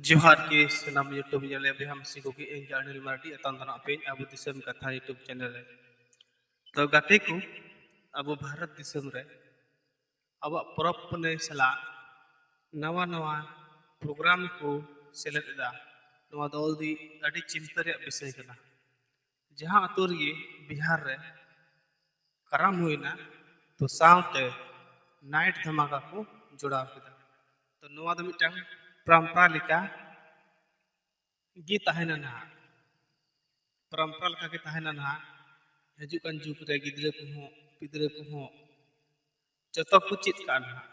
ᱡᱚᱦᱟᱨ ᱜᱮ ᱥᱟᱱᱟᱢ ᱤᱭᱩᱴᱩᱵᱽ ᱧᱮᱞᱮ ᱵᱚᱭᱦᱟ ᱢᱤᱥᱤ ᱠᱚᱜᱮ ᱤᱧ ᱟᱹᱱᱤᱞ ᱢᱟᱨᱰᱤ ᱮᱛᱟᱝ ᱫᱚ ᱟᱯᱮ ᱟᱵᱚ ᱫᱤᱥᱚᱢ ᱠᱟᱛᱷᱟ ᱤᱭᱩᱴᱩᱵᱽ ᱪᱮᱱᱮᱞ ᱨᱮ ᱛᱚ ᱜᱟᱛᱮ ᱠᱚ ᱟᱵᱚ ᱵᱷᱟᱨᱚᱛ ᱫᱤᱥᱚᱢ ᱨᱮ ᱟᱵᱚᱣᱟᱜ ᱯᱚᱨᱚᱵᱽ ᱯᱩᱱᱟᱹᱭ ᱥᱟᱞᱟᱜ ᱱᱟᱣᱟ ᱱᱟᱣᱟ ᱯᱨᱳᱜᱨᱟᱢ ᱠᱚ ᱥᱮᱞᱮᱫ ᱮᱫᱟ ᱱᱚᱣᱟ ᱫᱚ ᱟᱹᱰᱤ ᱪᱤᱱᱛᱟᱹ ᱨᱮᱭᱟᱜ ᱵᱤᱥᱚᱭ ᱠᱟᱱᱟ ᱡᱟᱦᱟᱸ ᱟᱛᱳ ᱨᱮᱜᱮ ᱵᱤᱦᱟᱨ ᱨᱮ ᱠᱟᱨᱟᱢ ᱦᱩᱭᱱᱟ ᱛᱚ ᱥᱟᱶᱛᱮ ᱱᱟᱭᱤᱴ ᱫᱷᱟᱢᱟᱠᱟ ᱠᱚ ᱡᱚᱲᱟᱣ ᱠᱮᱫᱟ ᱛᱚ ᱱᱚᱣᱟ ᱫᱚ ᱢᱤᱫᱴᱟᱝ ᱯᱨᱟᱢᱯᱨᱟ ᱞᱮᱠᱟ ᱜᱮ ᱛᱟᱦᱮᱱᱟ ᱱᱟᱦᱟᱜ ᱯᱨᱟᱢᱯᱨᱟ ᱞᱮᱠᱟ ᱜᱮ ᱛᱟᱦᱮᱱᱟ ᱱᱟᱦᱟᱜ ᱦᱤᱡᱩᱜ ᱠᱟᱱ ᱡᱩᱜᱽ ᱨᱮ ᱜᱤᱫᱽᱨᱟᱹ ᱠᱚᱦᱚᱸ ᱯᱤᱫᱽᱨᱟᱹ ᱠᱚᱦᱚᱸ ᱡᱚᱛᱚ ᱠᱚ ᱪᱮᱫ ᱠᱟᱜᱼᱟ ᱱᱟᱦᱟᱜ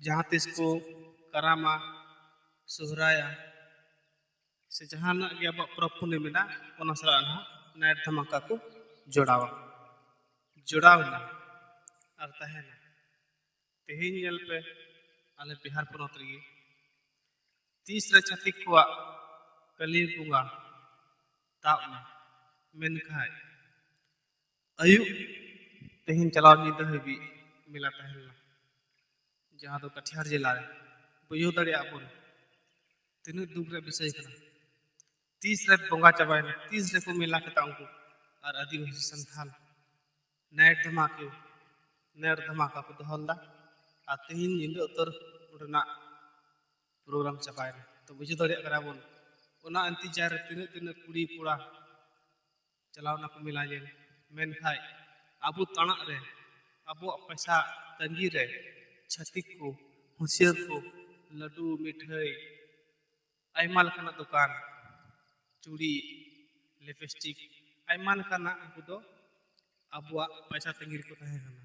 ᱡᱟᱦᱟᱸ ᱛᱤᱥ ᱠᱚ ᱠᱟᱨᱟᱢᱟ ᱥᱚᱦᱨᱟᱭᱟ ᱥᱮ ᱡᱟᱦᱟᱱᱟᱜ ᱜᱮ ᱟᱵᱚᱣᱟᱜ ᱯᱚᱨᱚᱵᱽ ᱯᱩᱱᱟᱹᱭ ᱢᱮᱱᱟᱜᱼᱟ ᱚᱱᱟ ᱥᱟᱞᱟᱜ ᱱᱟᱦᱟᱜ ᱱᱟᱭᱤᱴ ᱫᱷᱟᱢᱟᱠᱟ ᱠᱚ ᱡᱚᱲᱟᱣᱟ ᱡᱚᱲᱟᱣ ᱮᱱᱟ ᱟᱨ ᱛᱟᱦᱮᱱᱟ ᱛᱮᱦᱮᱧ ᱧᱮᱞ ᱯᱮ ᱟᱞᱮ ᱵᱤᱦᱟᱨ ᱯᱚᱱᱚᱛ ᱨᱮᱜᱮ ᱛᱤᱥ ᱨᱮ ᱪᱷᱟᱹᱛᱤᱠ ᱠᱚᱣᱟᱜ ᱠᱟᱹᱞᱤ ᱵᱚᱸᱜᱟ ᱛᱟᱵ ᱮᱱᱟ ᱢᱮᱱᱠᱷᱟᱡ ᱟᱹᱭᱩᱵ ᱛᱮᱦᱮᱧ ᱪᱟᱞᱟᱣ ᱧᱤᱫᱟᱹ ᱦᱟᱹᱵᱤᱡ ᱢᱮᱞᱟ ᱛᱟᱦᱮᱸ ᱞᱮᱱᱟ ᱡᱟᱦᱟᱸ ᱫᱚ ᱠᱟᱴᱷᱤᱭᱟᱨ ᱡᱮᱞᱟ ᱨᱮ ᱵᱩᱡᱷᱟᱹᱣ ᱫᱟᱲᱮᱭᱟᱜ ᱟᱵᱚᱱ ᱛᱤᱱᱟᱹᱜ ᱫᱩᱠ ᱨᱮᱭᱟᱜ ᱵᱤᱥᱚᱭ ᱠᱟᱱᱟ ᱛᱤᱥ ᱨᱮ ᱵᱚᱸᱜᱟ ᱪᱟᱵᱟᱭᱮᱱᱟ ᱛᱤᱥ ᱨᱮᱠᱚ ᱢᱮᱞᱟ ᱠᱮᱫᱟ ᱩᱱᱠᱩ ᱟᱨ ᱟᱹᱫᱤᱵᱟᱹᱥᱤ ᱥᱟᱱᱛᱷᱟᱞ ᱱᱟᱭᱤᱴ ᱫᱷᱟᱢᱟᱠᱟ ᱱᱟᱭᱤᱴ ᱫᱷᱟᱢᱟᱠᱟ ᱠᱚ ᱫᱚᱦᱚ ᱞᱮᱫᱟ ᱟᱨ ᱛᱮᱦᱮᱧ ᱧᱤᱫᱟᱹ ᱩᱛᱟᱹᱨ ᱚᱸᱰᱮᱱᱟᱜ ᱯᱨᱳᱜᱨᱟᱢ ᱪᱟᱵᱟᱭᱮᱱᱟ ᱛᱚ ᱵᱩᱡᱷᱟᱹᱣ ᱫᱟᱲᱮᱭᱟᱜ ᱠᱟᱱᱟ ᱵᱚᱱ ᱚᱱᱟ ᱤᱱᱛᱤᱡᱟᱨ ᱨᱮ ᱛᱤᱱᱟᱹᱜ ᱛᱤᱱᱟᱹᱜ ᱠᱩᱲᱤ ᱠᱚᱲᱟ ᱪᱟᱞᱟᱣ ᱮᱱᱟᱠᱚ ᱢᱮᱞᱟ ᱧᱮᱞ ᱢᱮᱱᱠᱷᱟᱱ ᱟᱵᱚ ᱛᱟᱬᱟᱜ ᱨᱮ ᱟᱵᱚᱣᱟᱜ ᱯᱚᱭᱥᱟ ᱛᱟᱺᱜᱤ ᱨᱮ ᱪᱷᱟᱹᱛᱤᱠ ᱠᱚ ᱦᱩᱥᱭᱟᱹᱨ ᱠᱚ ᱞᱟᱹᱰᱩ ᱢᱤᱴᱷᱟᱹᱭ ᱟᱭᱢᱟ ᱞᱮᱠᱟᱱᱟᱜ ᱫᱚᱠᱟᱱ ᱪᱩᱲᱤ ᱞᱤᱯᱤᱥᱴᱤᱠ ᱟᱭᱢᱟ ᱞᱮᱠᱟᱱᱟᱜ ᱩᱱᱠᱩ ᱫᱚ ᱟᱵᱚᱣᱟᱜ ᱯᱚᱭᱥᱟ ᱛᱟᱺᱜᱤ ᱨᱮᱠᱚ ᱛᱟᱦᱮᱸ ᱠᱟᱱᱟ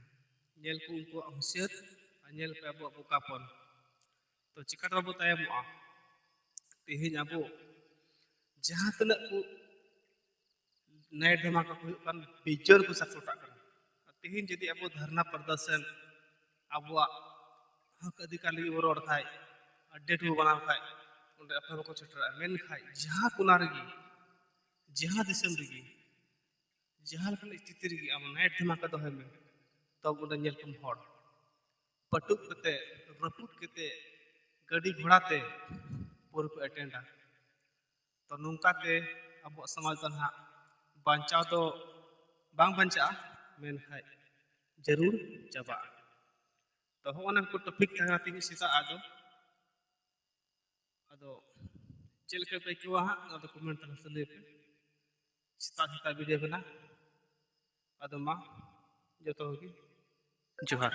ᱧᱮᱞ ᱠᱚ ᱩᱱᱠᱩᱣᱟᱜ ᱦᱩᱥᱭᱟᱹᱨ ᱟᱨ ᱧᱮᱞ ᱯᱮ ᱟᱵᱚᱣᱟᱜ ᱵᱚᱠᱟᱯᱚᱱ ᱛᱚ ᱪᱤᱠᱟ ᱛᱮ ᱵᱟᱵᱚ ᱛᱟᱭᱚᱢᱚᱜᱼᱟ ᱛᱮᱦᱮᱧ ᱟᱵᱚ ᱡᱟᱦᱟᱸ ᱛᱤᱱᱟᱹᱜ ᱠᱚ ᱱᱟᱭᱤᱴ ᱫᱷᱟᱢᱟᱠᱟ ᱠᱚ ᱦᱩᱭᱩᱜ ᱠᱟᱱ ᱵᱤᱡᱚᱨ ᱠᱚ ᱥᱟᱯᱚᱨᱴᱟᱜ ᱠᱟᱱᱟ ᱛᱮᱦᱮᱧ ᱡᱩᱫᱤ ᱟᱵᱚ ᱫᱷᱟᱨᱱᱟ ᱯᱨᱚᱫᱚᱨᱥᱚᱱ ᱟᱵᱚᱣᱟᱜ ᱦᱚᱸᱠ ᱚᱫᱷᱤᱠᱟᱨ ᱞᱟᱹᱜᱤᱫ ᱵᱚ ᱨᱚᱲ ᱠᱷᱟᱡ ᱟᱰᱮᱴ ᱵᱚ ᱵᱮᱱᱟᱣ ᱠᱷᱟᱡ ᱚᱸᱰᱮ ᱟᱯᱮ ᱵᱟᱠᱚ ᱥᱮᱴᱮᱨᱚᱜᱼᱟ ᱢᱮᱱᱠᱷᱟᱡ ᱡᱟᱦᱟᱸ ᱠᱚᱱᱟ ᱨᱮᱜᱮ ᱡᱟᱦᱟᱸ ᱫᱤᱥᱚᱢ ᱨᱮᱜᱮ ᱡᱟᱦᱟᱸ ᱞᱮᱠᱟᱱ ᱥᱛᱷᱤᱛᱤ ᱨᱮᱜᱮ ᱟᱢ ᱱᱟᱭᱤᱴ ᱫᱷᱟᱢᱟᱠᱟ ᱫᱚᱦᱚᱭ ᱢᱮ ᱛᱚᱵᱮ ᱚᱸᱰᱮ ᱧᱮᱞ ᱠᱚᱢ ᱦᱚᱲ ᱯᱟᱹᱴᱩᱵ ᱠᱟᱛᱮᱫ ᱨᱟᱹᱯᱩᱫ ᱠᱟᱛᱮᱫ ᱜᱟᱹᱰᱤ ᱜᱷᱚᱲᱟ ᱛᱮ ᱯᱟᱹᱣᱨᱟᱹ ᱠᱚ ᱮᱴᱮᱱᱰᱟ ᱛᱚ ᱱᱚᱝᱠᱟ ᱛᱮ ᱟᱵᱚᱣᱟᱜ ᱥᱚᱢᱟᱡᱽ ᱫᱚ ᱱᱟᱦᱟᱜ ᱵᱟᱧᱪᱟᱣ ᱫᱚ ᱵᱟᱝ ᱵᱟᱧᱪᱟᱜᱼᱟ ᱢᱮᱱᱠᱷᱟᱡ ᱡᱟᱹᱨᱩᱲ ᱪᱟᱵᱟᱜᱼᱟ ᱛᱚ ᱦᱚᱸᱜᱼᱚ ᱱᱟ ᱠᱚ ᱴᱚᱯᱤᱠ ᱛᱟᱦᱮᱸ ᱠᱟᱱᱟ ᱛᱮᱦᱮᱧ ᱥᱮᱛᱟᱜ ᱟᱜ ᱫᱚ ᱟᱫᱚ ᱪᱮᱫ ᱞᱮᱠᱟ ᱯᱮ ᱟᱹᱭᱠᱟᱹᱣᱟ ᱦᱟᱸᱜ ᱚᱱᱟ ᱫᱚ ᱠᱚᱢᱮᱱᱴ ᱛᱟᱞᱟ ᱛᱮ ᱞᱟᱹᱭ ᱯᱮ ᱥᱮᱛᱟᱜ ᱥᱮᱛᱟᱜ ᱵᱤᱫᱟᱹ ᱠᱟᱱᱟ ᱟᱫᱚ ᱢᱟ ᱡᱚᱛᱚ ᱠᱚᱜᱮ ᱡᱚᱦᱟᱨ